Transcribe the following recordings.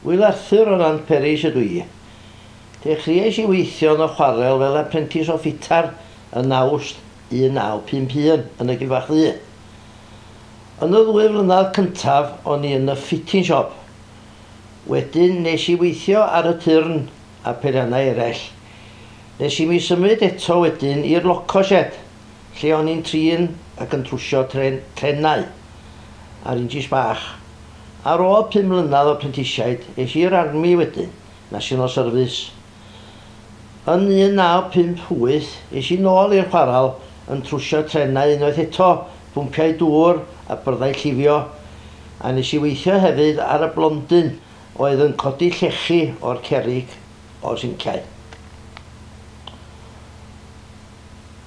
Wil Arthur o Nantperis ydw i. Dechreuais i weithio yn y chwarel fel aprentis o ffitar yn Awst 1951 yn y Gilfach Ddu. Yn y ddwy flynedd cyntaf o'n i yn y fitting shop. Wedyn nes i weithio ar y turn a pherannau eraill. Nes i mi symud eto wedyn i'r loco shed, lle o'n i'n trin ac yn trwsio tren, trenau, a'r injis bach. Ar ôl pum mlynedd o prentisiaid, es i i'r army wedyn, National Service. Yn 1958, es i nôl i'r chwarel yn trwsio trenau unwaith eto, pwmpiau dŵr a byrddau llifio, a nes i weithio hefyd ar y blondyn oedd yn codi llechi o'r cerrig o'r sinciau.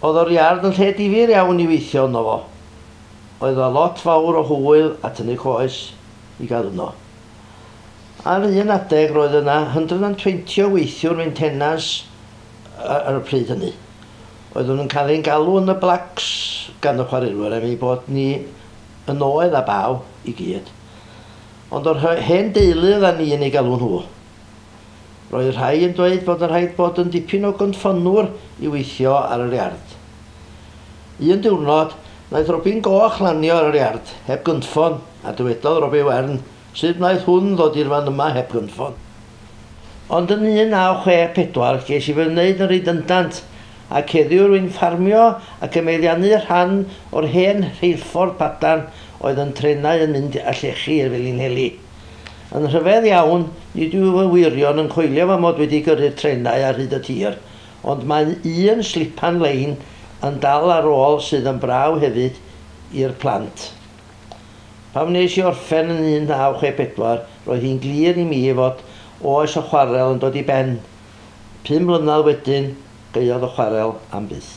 Oedd o'r iard yn lle difyr iawn i weithio yno fo. Oedd yna lot fawr o hwyl a tynnu coes i gael yno. Ar un adeg roedd yna 120 o weithiwr meintenans ar y pryd hynny. Oeddwn yn cael ein galw yn y Blacks gan y chwarelwyr am ei bod ni yn oedd a baw i gyd. Ond yr hen deulu oeddan ni yn eu galw nhw. Roedd rhai yn dweud bod yn rhaid bod yn dipyn o gynffonnwr i weithio ar yr iard. Un diwrnod, wnaeth robin goch lanio ar yr iard heb gynffon a dywedodd robin wern, 'Sut wnaeth hwn ddod i'r fan yma heb gynffon? Ond yn 1964 ges i fy wneud yn redundant, ac heddiw rwy'n ffarmio ac yn meddiannu rhan o'r hen rheilffordd padarn oedd yn trenau yn mynd â llechi i'r Felinheli. Yn rhyfedd iawn, nid yw fy wyrion yn coelio fy mod wedi gyrru'r trenau ar hyd y tir, ond mae un slipan lein yn dal ar ôl sydd yn brau hefyd i'r plant. Pan wnes i orffen yn 1964, roedd hi'n glir i mi fod oes y chwarel yn dod i ben. Pum mlynedd wedyn, gaeodd y chwarel am byth.